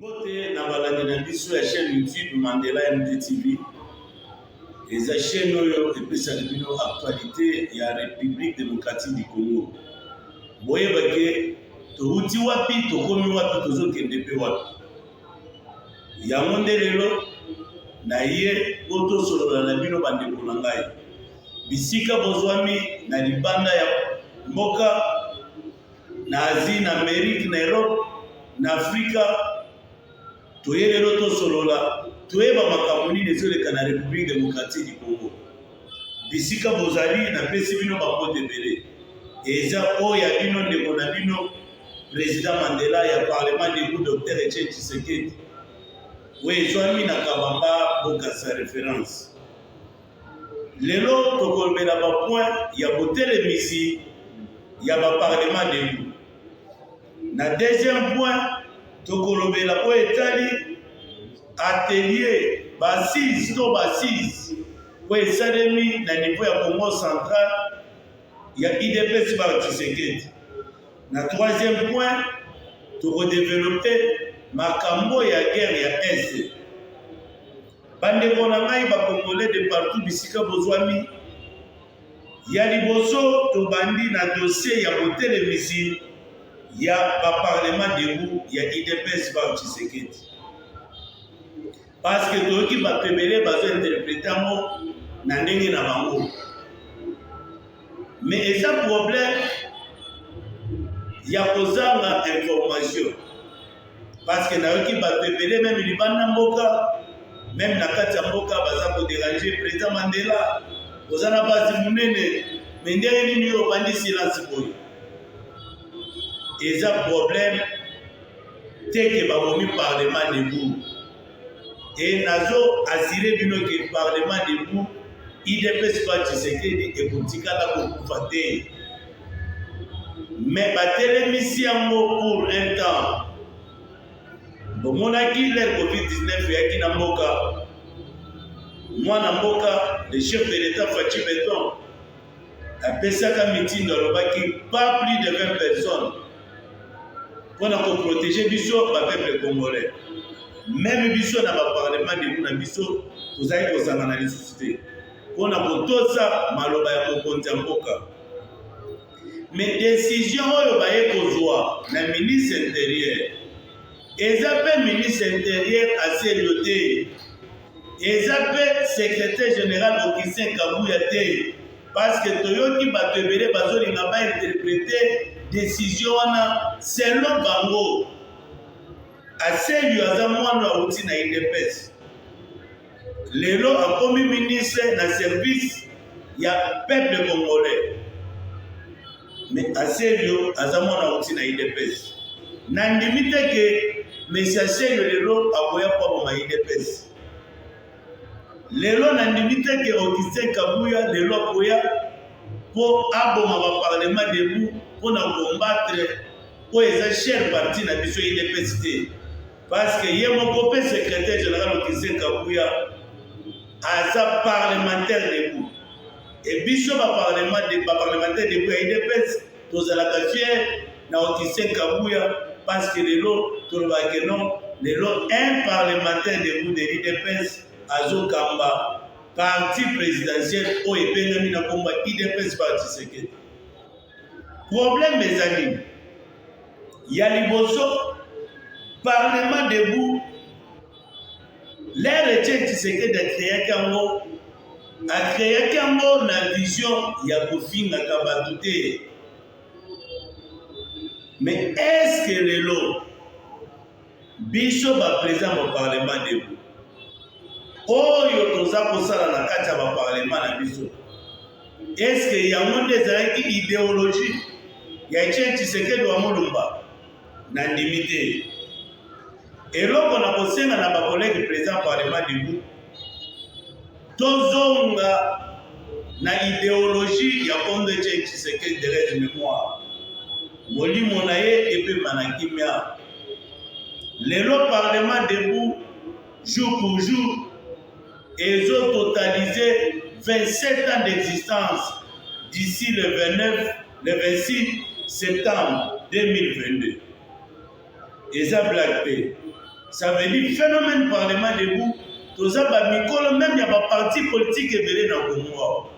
mbote na balandi na biso ya chaîne youtube mandela mdtv eza chaîne oyo epesaka bino actualité ya république démocratique du congo boyebake towuti wapi tokomi wapi tozokende mpe wapi yango nde lelo na ye po tosolola na bino bandeko na ngai bisika bozwami na libanda ya mboka na asie na amerike na europe na afrika toye lelo tosolola toyeba makambo nini ezoleka na république démocratique du congo bisika bozali napesi bino bakote ebele eza oyo ya bino ndeko na bino President Mandela ya Parlement debout Docteur Etienne Tshisekedi oyo ezwami na Kabamba Bokassa reference. Lelo tokolobela ba point ya botelemisi ya ba Parlement debout. Na deuxième point tokolobela oyo etali atelier basise to basise oyo esalemi na niveau ya Congo central ya idps ba Tshisekedi. Na troisième point, tokodevelope makambo ya guerre ya Est. Bandeko na ngai bakongole de partout bisika bozwami, ya liboso tobandi na dossier ya botelemisi ya baparlement debout ya idps ba Tshisekedi. Parce que toyoki bato ebele bazo interprete yango na ndenge na bango. Mais eza problème ya kozanga information. Parce que nayoki bato ebele meme libanda mboka, meme na kati ya mboka baza ko déranger président Mandela. Oza na base monene, mais ndenge nini yo obandi silence boye? Eza problème te ke babomi parlement debout e nazo asire bino ke parlement debout idps pa tshisekedi ekotikala kokufa te me batelemisi yango pour un temps bomonaki le covid-19 eyaki na mboka mwana mboka le chef de l'etat faci beton apesaka mitindo alobaki pas plus de 20 personnes mpo na koprotege biso bapeuple congolais meme biso na baparlement debu na biso tozali kozangana lisusu te mpo na kotosa maloba ya mokonzi ya mboka me desizio oyo baye kozwa na ministre interieur eza mpe ministre interieur aselio te eza mpe secretaire general augustin kabuya te parceke toyoki bato ebele bazolinga bainterprete desizio wana selon bango aselio aza mwana auti na idps lelo akomi ministre na service ya peuple congolais Mais Aselio aza mwana auti na IDPS. Nandimi te ke Monsieur Aselio lelo akoya mpo aboma IDPS. Lelo nandimi te ke Augustin Kabuya lelo akoya mpo aboma ba parlement debout mpo na combattre oyo eza chère parti na biso IDPS te. Parce que ye moko mpe secrétaire général Augustin Kabuya aza parlementaire debout. Et biso ba parlement de ba parlementaire de ya UDPS tozalaka fier na Augustin Kabuya parce que lelo tolobaka que non lelo un parlementaire de de l'UDPS azokamba parti présidentiel oyo ebengami na komba UDPS par Tshisekedi. Problème eza nini? Ya liboso parlement debout Leur Etienne Tshisekedi akreaki yango akreaki yango na vision ya kofingaka bato te mais eske lelo biso baprezida ya baparlema debo oyo toza kosala na kati ya baparlema na biso eske yango nde ezalaki ideologie ya Etienne Tshisekedi wa Mulumba Nandimi te. Eloko na kosenga na bakolege president parlement du groupe, tozonga na ideologie ya Kondo Etienne Tshisekedi de règne mémoire. Molimo na ye epema na kimia. Lelo parlement debout jour pour jour ezo totaliser 27 ans d'existence d'ici le 29 le 26 septembre 2022 eza blague te ça veut dire phénomène parlement debout toza ba mikolo même ya ba parti politique ebele na Congo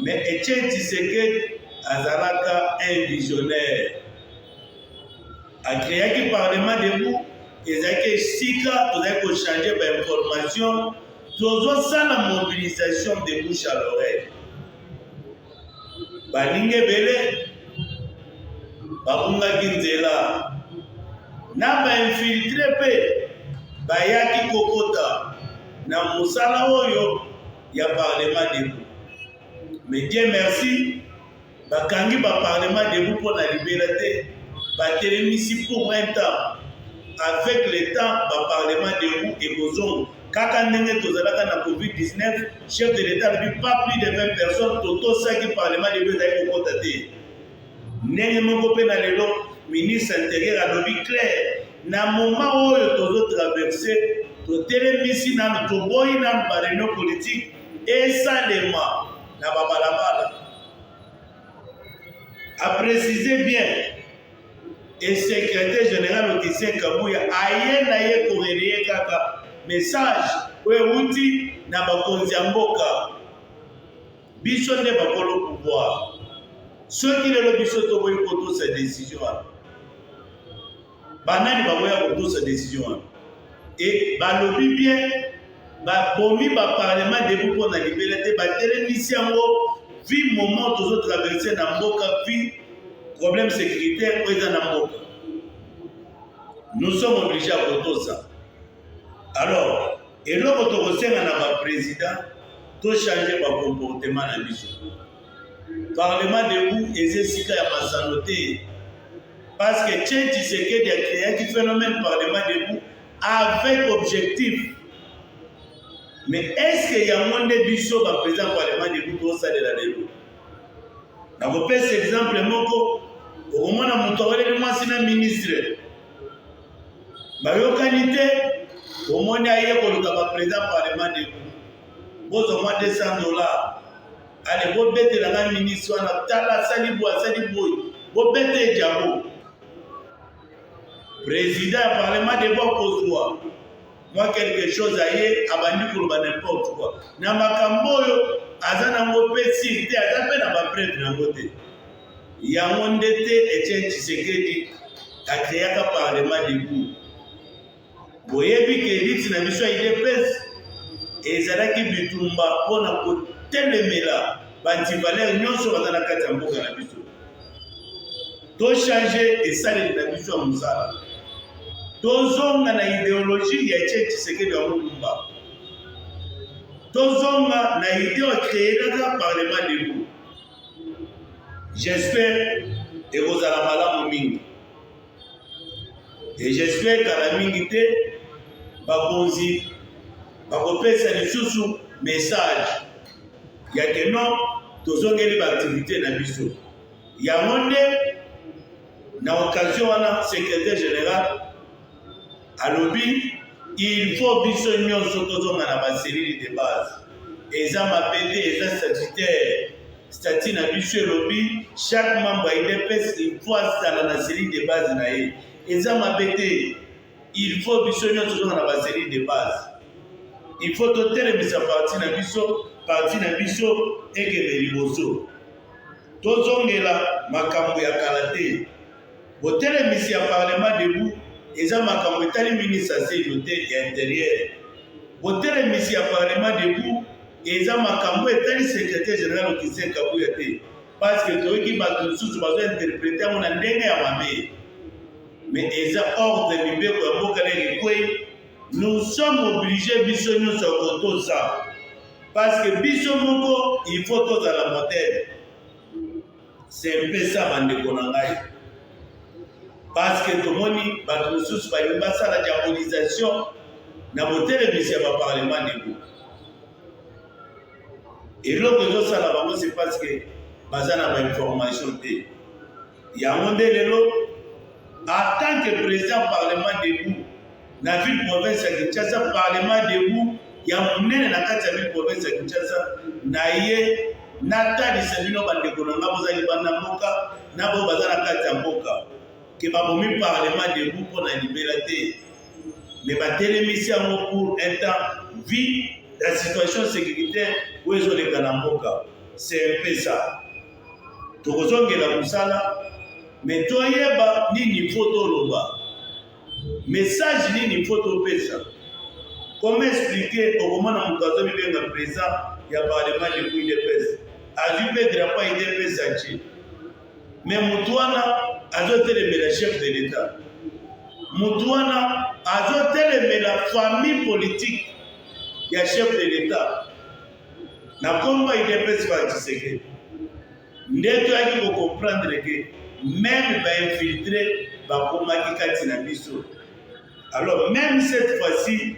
mais Etienne Tshisekedi azalaka un visionnaire Acreaki parlement debout ezalaki esika tozali kochange bainformation tozosala mobilisation de bouche à l'oreille baninga ebele babungaki nzela na bainfiltre mpe bayaki kokota na mosala oyo ya parlement debout mais dieu merci Bakangi ba parlement debout mpo na libela te, batelemisi pour un temps. Avec le temps, ba parlement debout ekozonga. Kaka ndenge tozalaka na Covid 19, chef de l'Etat alobi pas plus de 20 personnes, totosaki parlement debout ezali kokota te. Ndenge moko mpe na lelo, ministre interieur alobi clair, na moment oyo tozo traverse, totelemisi nanu, toboyi nanu ba reunion politique esalema na babalabala. a préciser bien et secrétaire général Augustin Kabuya aye na ye koreleye kaka message oyo euti na bakonzi ya mboka biso nde bakolo pouvoir soki lelo biso tokoki kotosa décision wana Banani bakoya kotosa decision wana? E balobi bien babomi ba parlement debu mpo na libela te, batelemisi yango vi moment tozo traverse na mboka vi problème sécuritaire oyo eza na mboka. Nous sommes obligés ya kotosa. Alors eloko tokosenga na ba président to changer ba comportement na biso. Parlement debout eza esika ya masano te parce que Chen Tshisekedi a créaki phénomène Parlement debout avec objectif mais est-ce que yango nde biso ba président Parlement debout tosalela lelo nakopesa exemple moko okomona moto aweleli mwasi na ministre bayokani te omoni aye koluka ba président Parlement debout bozwa mwa 200 dollars Ale bobetela ngai ministre wana tala asali boye asali boye bobete ejabo président ya parlement deba okozwa mwa quelque chose aye abandi koloba n'importe quoi na makambo oyo aza nango mpe sir te aza mpe na bapreve nango te yango nde te etienne tshisekedi akreaka parlement debout Boyebi ke liti na biso ya udps ezalaki bitumba mpo na kotelemela bantivalere nyonso baza na kati ya mboka na biso tochange esaleli na biso ya mosala tozonga na ideologi ya etie tshisekedi ya molumba tozonga na ideo ekreelaka parlement debout j'espère ekozala malamu mingi Et j'espère kala mingi te bakonzi bakopesa lisusu message ya ke non tozongeli baaktivité na biso yango nde na occasion wana secrétaire général Alobi il faut biso nyonso tozonga na ba cellules de base. Eza mabe te, eza statutaire. Statut na biso elobi chaque membre ya UDPS il faut azala na cellule de base na ye. Eza mabe te. Il faut biso nyonso tozonga na ba cellules de base. Il faut totelemisa parti na biso, parti na biso ekende liboso. Tozongela makambo ya kala te. Botelemisi ya Parlement debout eza makambo etali ministre Seylo te ya Interieur. Botelemisi ya Parlement debout eza makambo etali Secretaire general Augustin Kabuya te parce que toyoki bato mosusu bazo interpreter yango na ndenge ya mabe. Mais eza ordre mibeko ya mboka ndenge ekwei, nous sommes obliges biso nyonso ya kotosa parce que biso moko il faut tozala modèle. Sempesa bandeko na ngai, paske tomoni bato mosusu balingi basala diabolisation na botelemisi ya baparlema debo. Eloko ezosala bango se paske baza na bainformation te. Yango nde lelo, en tant que president parlement debout, na ville province ya Kinshasa parlement debout ya monene na kati ya ville province ya Kinshasa na ye natalisa bino bandeko na ngai bozali banda mboka na baoyo baza na kati ya mboka ke babomi parlement debout mpo na libela te me batelemisi yango pour un temps vie la situation sécuritaire oyo ezoleka na mboka c'est un peu ça tokozongela mosala me toyeba nini mpo toloba Message nini faut topesa? Comment expliquer okomona moto azo mibenga president ya parlement du UDPS azwi mpe drapeau ya UDPS atie mais moto wana azotelemela chef de l'etat moto wana azotelemela famille politique ya chef de l'etat na kombo ya UDPS ba Tshisekedi nde toyaki kocomprendre ke meme bainfiltre bakomaki kati na biso alors meme cette fois-ci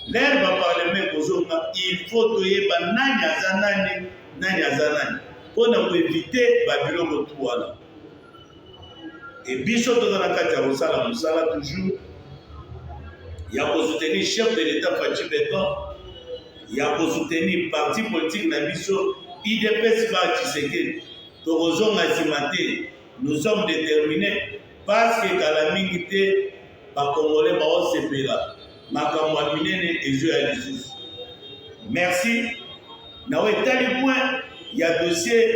lere baparlema ekozonga il faut toyeba nani aza nani nani aza nani mpo na koevite babiloko tu wana Et biso toza na kati ya kosala mosala toujours ya kosoutenir chef de l'État Fatshi Beton, ya kosoutenir parti politique na biso IDPS ba Tshisekedi. Tokozonga nsima te, nous sommes déterminés parce que kala mingi te ba congolais bao sepela makambo ya minene ezo ya lisusu merci na oyo etali point ya dossier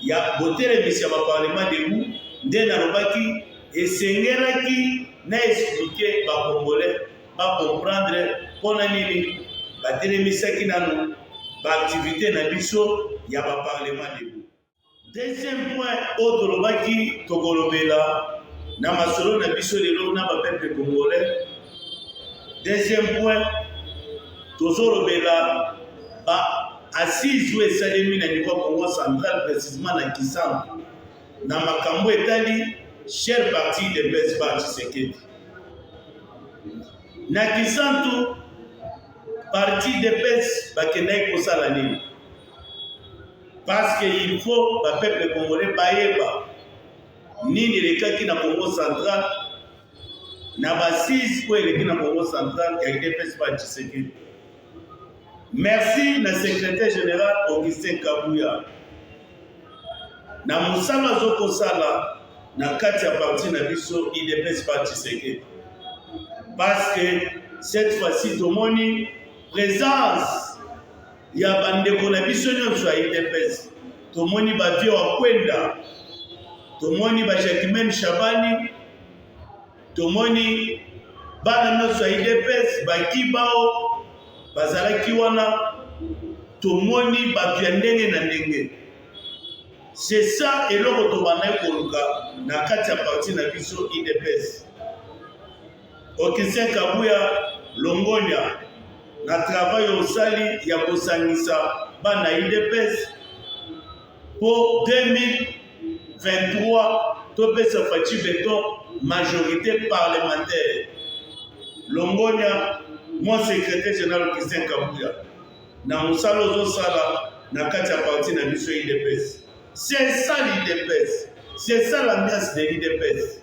ya botelemisi ya baparlement debout nde nalobaki esengelaki na explike bacongolais bacomprendre mpona nini batelemisaki nano baaktivité na biso ya baparlement debout Deuxième point oyo tolobaki tokolobela na masolo na biso lelo na bapeuple congolais. Deuxième point tozolobela ba assise oyo esalemi na niveau ya Congo central précisément na Kisantu na makambo etali chère partie de Blaise Ba Tshisekedi na Kisantu parti de pes bakendaki kosala nini Parce que il faut ba peuple congolais bayeba nini elekaki na Congo central na basise oyo eleki na Congo central ya UDPS ba Tshisekedi. Merci na secrétaire général Augustin Kabuya na mosala azokosala na kati ya parti na biso idps pa tshisekedi parce que cette fois-ci tomoni présence ya bandeko na biso nyonso ya udps tomoni bavie wa kwenda tomoni bajacquemaine shabani tomoni bana nyonso ya udps bakibao bazalaki wana tomoni bato ya ndenge na ndenge c'est ça eloko tobandaki koluka na kati ya parti na biso udps Augustin Kabuya Longonya, na travail osali ya kosangisa bana UDPS mpo 2023 topesa Fatshi Beton majorité parlementaire. Longonya, mon secrétaire général Augustin Kabuya, na mosala ozosala na kati ya parti na biso UDPS. C'est ça l'UDPS. C'est ça l'ambiance de l'UDPS.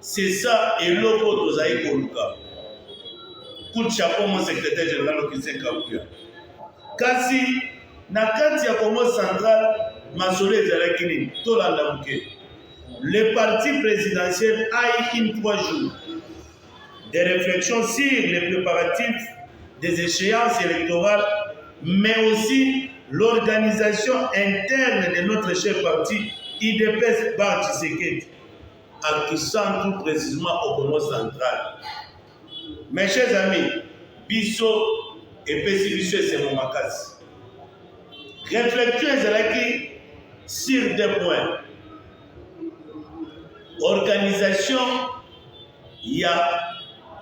C'est ça eloko oyo tozali koluka. Coup de chapeau mon secrétaire général Augustin Kabuya. Kasi na kati ya Congo central masolo ezalaki nini? Tolanda moke. Le parti présidentiel a eu une trois jours de réflexion sur les préparatifs des échéances électorales, mais aussi l'organisation interne de notre chef parti, IDPS Bar Tshisekedi. en Kisantu precisement au Congo central. Mes chers amis, biso epesi biso esengo makasi. Réflexion ezalaki sur deux points. Organisation ya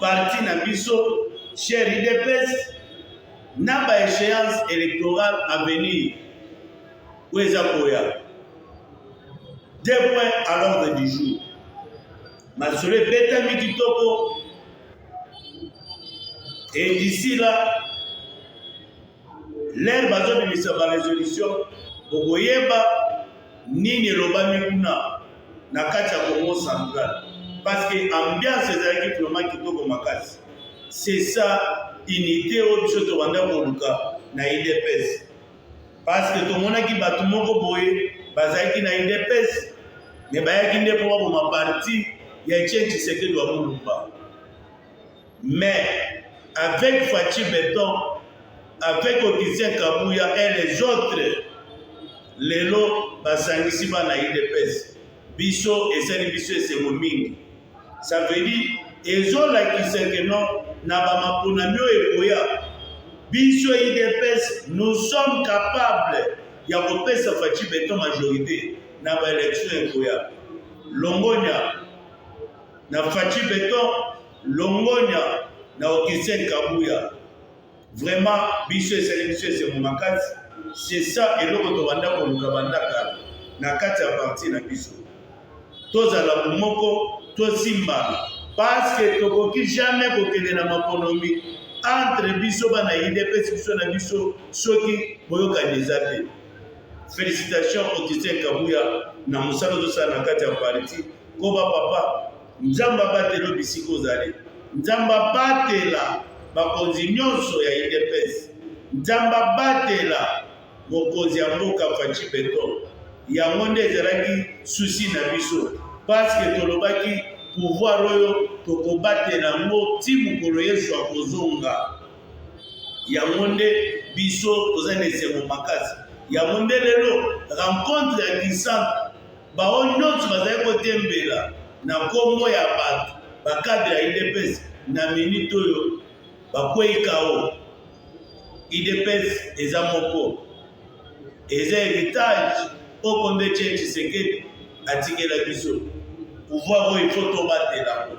parti na biso cher IDPS na ba échéance électorale à venir oyo eza koya deux points à l'ordre du jour masolo ebetami kitoko et d'ici là lere bazobimisa barésolution okoyeba nini elobami kuna na kati ya congo central parce que ambiance ezalaki vraiment kitoko makasi c'est ça unité oyo biso tobanda koluka na idps Parce que tomonaki bato moko boye bazalaki na UDPS mais bayaki nde mpo baboma parti ya Etienne Tshisekedi wa Mulumba. Mais avec Fatshi Beton, avec Augustin Kabuya et les autres, lelo basangisi bana UDPS. biso esali biso esengo mingi ça veut dire ezolakisa ke non na bamaponami oyo ekoya biso idps nous sommes capables ya kopesa faci beton majorité na baélection ekoya longonya na faci beton longonya na okisen kabuya Vraiment biso esali biso esengo makasi c'est ça eloko tobanda koluka banda kala na kati ya parti na biso tozala bomoko tosimbana parce que tokoki jamais kokende na maponomi entre biso bana idps biso na biso soki boyokani eza te félicitation augustin kabuya na mosala ozosala na kati ya parti koba papa Nzambe abatela yo bisika ozali. Nzambe abatela bakonzi nyonso ya UDPS. Nzambe abatela mokonzi ya mboka Fatshi Beton. Yango nde ezalaki susi na biso paske tolobaki pouvoir oyo tokobatela yango ti mokolo Yesu akozonga. Yango nde biso toza na esengo makasi. Yango nde lelo rencontre ya Kisantu Baoyo nyonso bazali kotembela na nkombo ya bato bakadre ya idps na minite oyo bakwei kao idps eza moko eza heritage oko nde tie tshisekedi atikela biso pouvoir oyo ifo tobatelango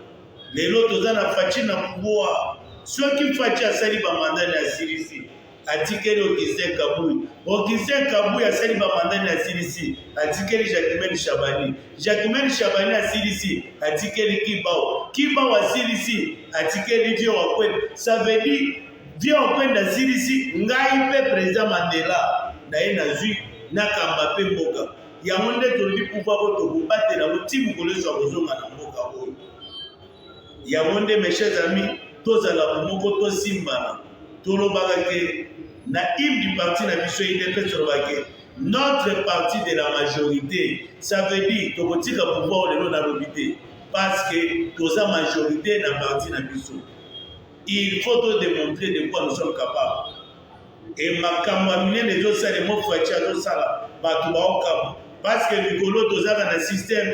lelo toza na faci na pouvoir soki faci asali bamandani asilisi Atikeli Augustin Kabuyi. Augustin Kabuyi asali ba mandat na CDC. Atikeli Jacquemaine Shabani. Jacquemaine Shabani na CDC. Atikeli Kibao. Kibao a CDC. Atikeli Vieux Wakwenda. Ça veut dire Vieux Wakwenda CDC. Ngai mpe President Mandela na ye nazwi nakamba mpe mboka. Yango nde tolobi pouvoir oyo tokobatela yango ti mokolo Yesu akozonga na mboka oyo. yango nde mes chers amis tozala bomoko tosimbana tolobaka ke na hymne du parti na biso idps tolobaka ke notre parti de la majorité ça veut dire tokotika pouvoir lelo nalobi te parce que toza majorité na parti na biso il faut to démontrer de quoi nous sommes capables et makambo ya minene ezosalema faci azosala bato baokamwa parce que mikolo tozaka na système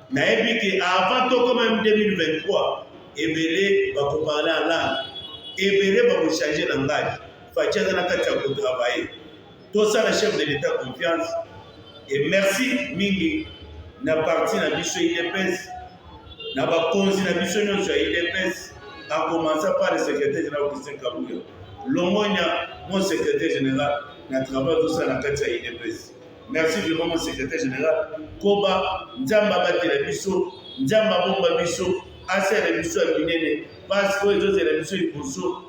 nayebi ke avant tokoma 2023 ebele bakoparle alangue ebele bakochange langage faci aza na kati ya kotravaille tosala chef de l'état confiance e merci mingi na parti na biso idps na bakonzi na biso nyonso ya idps akomansa par le secrétaire général christian kabuya longonya mon secrétaire général na travail tosala na kati ya idps Merci vraiment mon secrétaire général. Koba Nzambe abatela biso, Nzambe abomba biso, asala biso ya minene. Pasi oyo ezozela biso liboso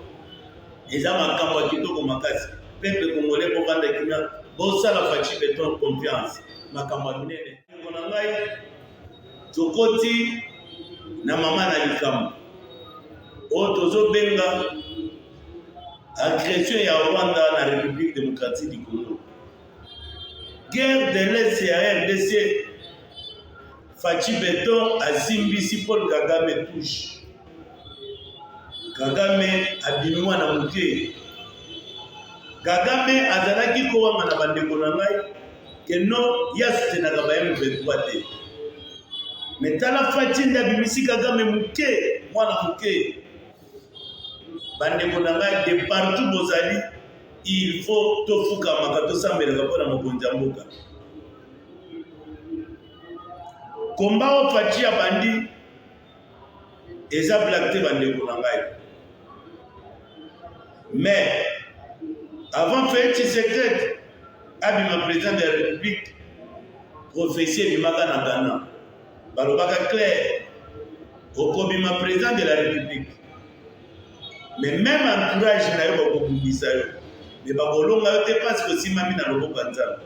eza makambo ya kitoko makasi. Peuple congolais bovanda kimia, bosala Fatshi Beton confiance, makambo ya minene. Ndeko na ngai tokoti na mama na likambo oyo tozobenga agression ya Rwanda na République démocratique du Congo. Guerre de l'Est ya RDC, Fatshi Beton azimbisi Paul Kagame touche. Kagame abimi mwana moke. Kagame azalaki kowanga na bandeko na ngai ke no ya sutenaka ba M23 te. Me tala Fatshi nde abimisi Kagame moke, mwana moke. bandeko na ngai de partout bozali il faut tofukamaka tosambelaka mpo na mokonzi ya mboka komba oyo faci abandi eza blak te bandeko na ngai mais avant fei tshisekedi abima président de la république prophétie ebimaka na ghana balobaka clair okobima president de la république mais même entourage na yo bakobundisa yo me bakolonga yo te mpasi kosimbami na loboko ya nzambe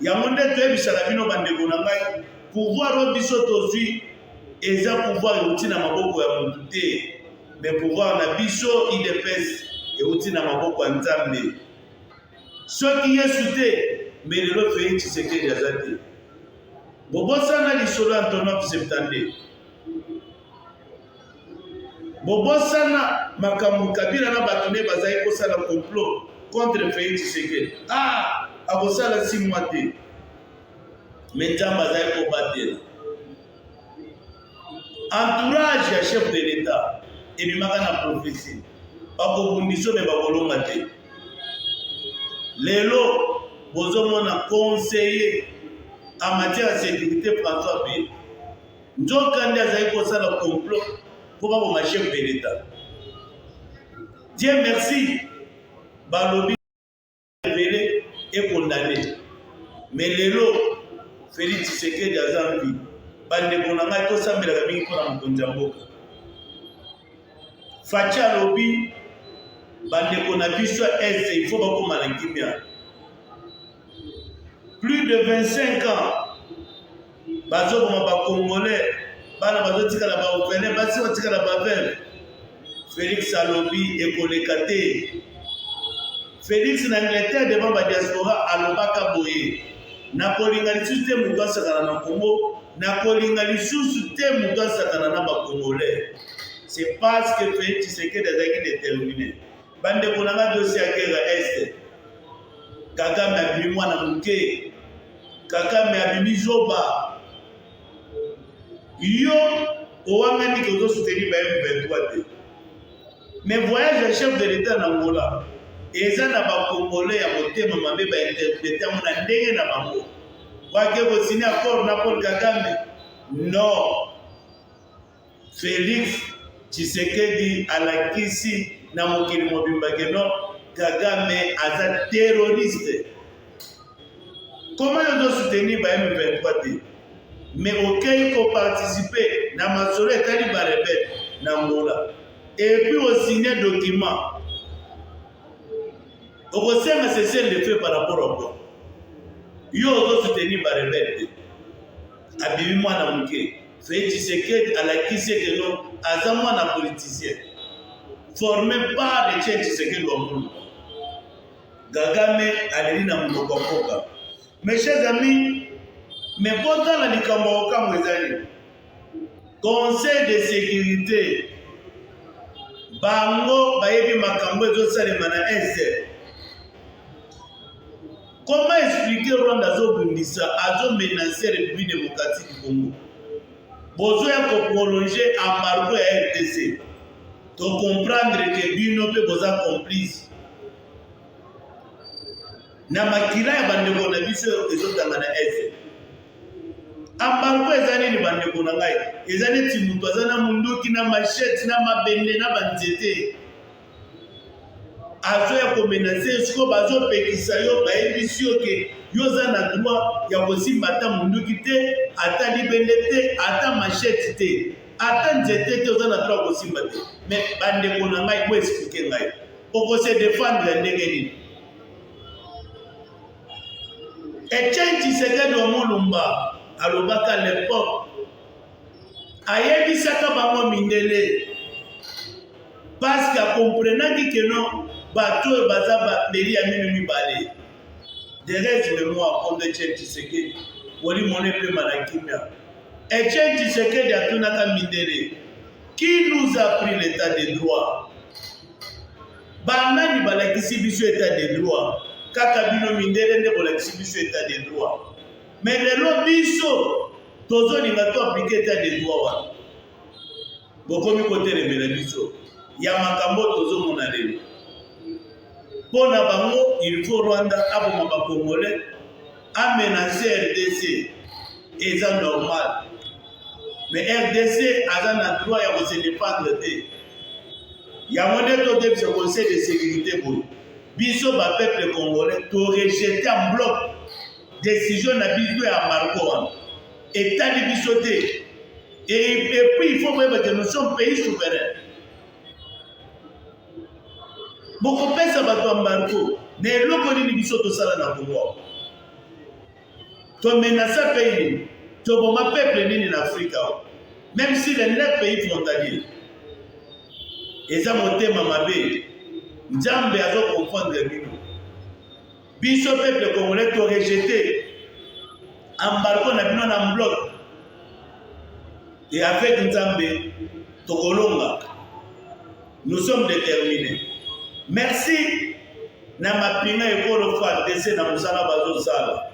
yango nde toyebisaka bino bandeko na ngai pouvoir oyo biso tozwi eza pouvoir euti na maboko ya motu te me pouvoir na biso idps euti na maboko ya nzambe Soki Yesu te, mais lelo Felix Tshisekedi aza te. Bobosana lisolo ya Antonov Septande. Bobosana makambo Kabila na bato ne bazali kosala complot contre Felix Tshisekedi. Ah, akosala si mwa te. Mais Nzambe azali kobatela. entourage ya chef de l'etat ebimaka na prophesie bakobundisa me bakolonga te lelo bozomona conseiller en matière ya sécurité françois pe nzoka nde azali kosala complot mpo bakoma chef de l'etat dieu merci balobi ebele ekondane me lelo felix tshisekedi aza mpi bandeko na ngai tosambelaka mingi mpo na mokonzi ya mboka faci alobi bandeko na biso ya este ifo bakoma na kimia plus de 25 ans bazoboma ba congolais bana bazotikala ba orphelin basi batikala ba veuve felix alobi ekoleka te felix na angleterre devant ba diaspora alobaka boye nakolinga lisusu te moto asakana na congo nakolinga lisusu te moto asakana na bacongolais c'est parce que felix tshisekedi azalaki determine Bandeko na ngai dosi ya guerre este Kagame abimi mwana moke, Kagame abimi zoba. Yo owangani ke ozosuteni ba M23 te, mais voyage ya chef de l'etat na Angola eza na bakongole ya motema mabe bainterprete yango na ndenge na bango wake kosini accord na Paul Kagame no Felix Tshisekedi alakisi na mokili mobimba keno Kagame aza terroriste. Comment yo zo soutenir ba M23 te? Mais okei ko participer na masolo etali ba rebelle na Angola. Et puis o signer document. Okosenga cessez le feu par rapport au quoi? Yo ozo soutenir ba rebelle te. Abimi mwana moke. Felix Tshisekedi alakisi ete no aza mwana politicien forme par Etienne Tshisekedi wa Mulumba. Kagame aleli na monoko ya mboka. Mes chers amis, me botala likambo ya kokamwa ezali conseil de sécurité bango bayebi makambo ezosalema na este Comment expliquer Rwanda azo bundisa, azo menacer République démocratique du Congo. Bozo ya ko prolonger embargo ya RDC. To comprendre que bino pe boza complice. Na makila ya bandeko na biso ezotanga na Est. Embargo eza nini bandeko na ngai? Eza neti moto aza na munduki na machette na mabende na banzete. avion ya komenase yo sikoyo bazopekisa yo bayebisi yo ke yo oza na droit ya kosimba ata monduki te ata libende te ata machete te ata nzete te oza na droit ya kosimba te me bandeko na ngai bo explike ngai okose defendre ya ndenge nini etienne tshisekedi omolumba alobaka lepoke ayebisaka bango mindele paske akomprenaki ke no bato oyo baza bameli ya mino mibale derese memoire comme etienne tshisekedi molimo na epema na kimia etienne tshisekedi atunaka mindele qui nous a pris l'état de droit banani balakisi biso état de droit kaka bino mindele nde bolakisi biso état de droit mais lelo biso tozolinga to aplike etat de droit wana bokomi kotelemela biso ya makambo tozomona lelo mpo na bango il faut rwanda aboma bacongolais amenace rdc eza normal mais rdc aza na droit ya kose dépendre te yango nde todebisa conseil de sécurité boye biso bapeuple congolais torejete en bloc Decision na biso ya embargo wana etali biso te et puis il faut koyeba que nous sommes pays souverain bokopesa bato embargo na eloko nini biso tosala na kongo tomenasa pays nini toboma peuple nini na afrika même si le neuf pays frontalier eza motema mabe nzambe azokonfondre bino Biso peuple congolais to rejete embargo na bino na mbloc et avec Nzambe tokolonga. Nous sommes déterminés. Merci na mapinga ekolo FARDC na mosala bazosala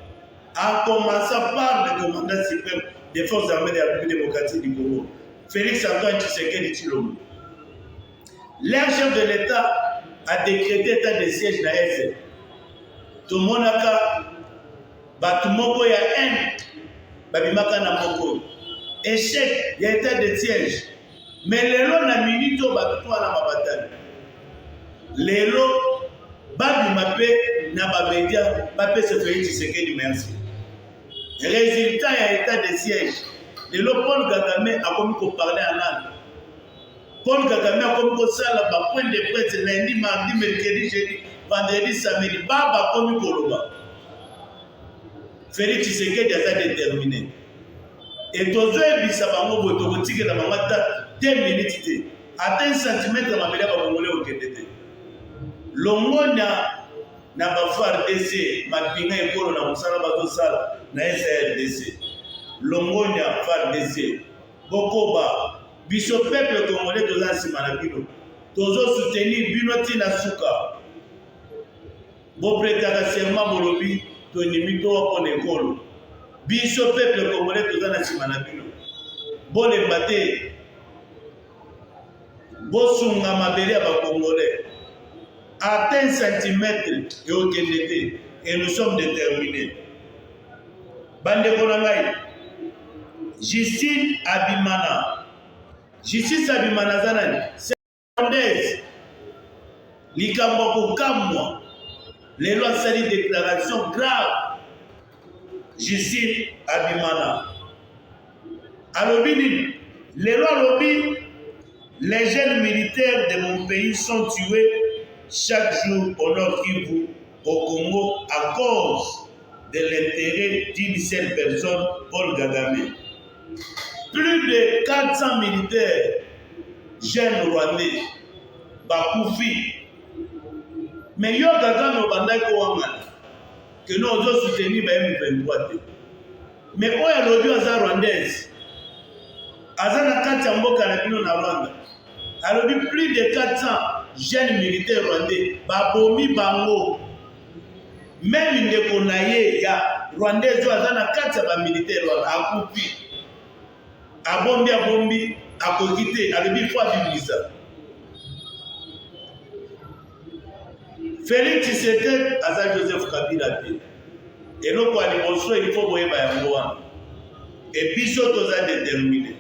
en commençant par le commandant suprême des forces armées de la République démocratique du Congo, Félix Antoine Tshisekedi Tshilombo. Leur chef de l'Etat a decrete etat de siège na Est. Tomonaka bato moko ya haine babimaka na moko échec ya etat de siège. Mais lelo na minute oyo bato to wana babatani. Lelo babima mpe na bamedia bapesa Felix Tshisekedi merci. Résultat ya etat de siège. Lelo Paul Kagame akomi koparle en langue Paul Kagame akomi kosala ba point de presse lundi, mardi, mercredi, jeudi, vendredi, samedi. Baba akomi koloba. Felix Tshisekedi aza determine. Et tozoyebisa bango boye tokotikela bango ata 2 minutes te. Ata 1 cm mabele ba bongole okende te. Longonya na ba FARDC mapinga ekolo na mosala bazosala na SARDC. Longonya FARDC. Bokoba, biso peuple congolais toza nsima na bino, tozo soutenir bino ti na suka. Bopretaka serment bolobi tondimi towa mpo na ekolo. Biso peuple congolais toza na nsima na bino, bolemba te, bosunga mabele ya bacongolais ata un centimètre eokende te et nous sommes déterminés bandeko na ngai justine abimana justine abimana aza nani secondaise likambo ya kokamwa lelo asali déclaration grave justine abimana alobi nini lelo alobi les jeunes militaires de mon pays sont tués chaque jour au nord kivu au Congo à cause de l'intérêt d'une seule personne, Paul Kagame. Plus de 400 militaires jeunes rwandais bakufi. Mais yo Kagame obandaki kowangana que nous ozo soutenir ba M23 te. Mais oyo alobi aza rwandaise aza na kati ya mboka na bino na Rwanda. alobi plus de 400 jeunes militaires rwandais babomi bango meme ndeko na ye ya rwandais oyo aza na kati ya bamilitaire wana akufi abombi abombi akoki te alobi fo abimisa Felix Tshisekedi aza Joseph Kabila te eloko ya liboso il faut boyeba yango wana e biso toza determine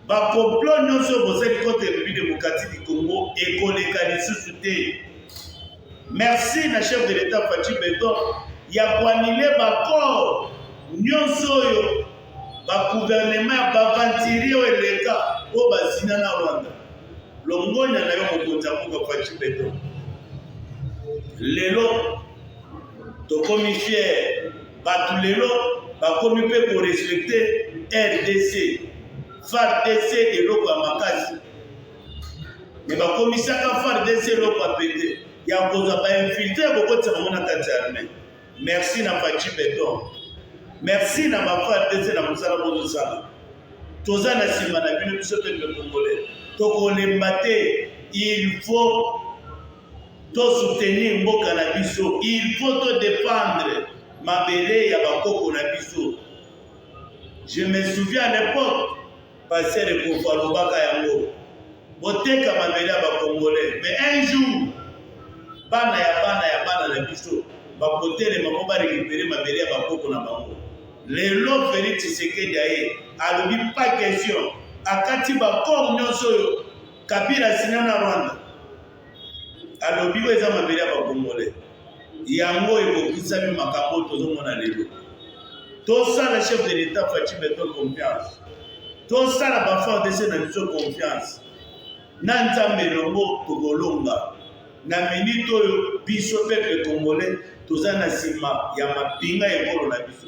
Ba complot nyonso bozali contre République démocratique du Congo ekoleka lisusu te. Merci na chef de l'État Fatshi Beton ya koanile baccord nyonso oyo baguvernema ya bavantiri oyo eleka oyo bazina na Rwanda. Longonya na yo mokonzi ya mboka Fatshi Beton. Lelo tokomi fier bato lelo bakomi mpe korespecte rdc fardc eloko ya makasi me bakomisaka fardc eloko ya pete ya kozwa bainfiltre ya kokotisa bango na kati ya arme merci na paci beton merci na bafardc na mosala bozosala toza na nsima na bino biso mpe mpe kongole tokolemba te il faut To soutenir mboka na biso il faut to defendre mabele ya ba koko na biso. Je me souviens à l'époque pasteur Ekofo alobaka yango boteka mabele ya ba congolais mais un jour bana ya bana ya bana na biso bakotelema mpo barekipere mabele ya bakoko na bango lelo felix tshisekedi aye alobi pas question akati bakor nyonso oyo Kabila sina na Rwanda alobi oyo eza mabele ya bakongole yango ekokisami makambo oyo tozomona lelo tosala chef de l'etat faci beton confiance tosala bafardc na biso confiance na nzambe elongo tokolonga na minite oyo biso peple congolais toza na nsima ya mapinga ekolo na biso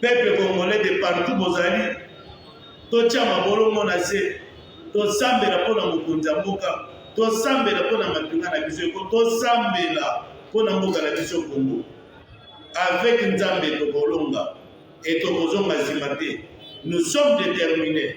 Peuple congolais de partout bozali, totia mabolongo na se, tosambela mpo na mokonzi ya mboka, tosambela mpo na mapinga na biso eko, tosambela mpo na mboka na biso Kongo. Avec Nzambe tokolonga et tokozonga nsima te. Nous sommes determinés.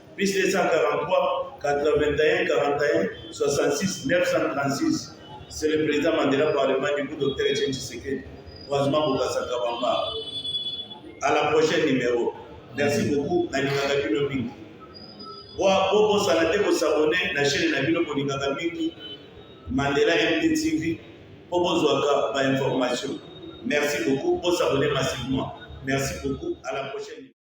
Plus 243 81 41 66 936 c'est le président Mandela parlement du coup docteur Etienne Tshisekedi croisement Bokassa Kabamba à la prochaine numéro merci beaucoup nalingaka bino mingi bobosana te kosabone na chaîne na bino kolingaka mingi Mandela MDTV mpo bozwaka bainformation merci beaucoup bosabone massivement merci beaucoup à la prochaine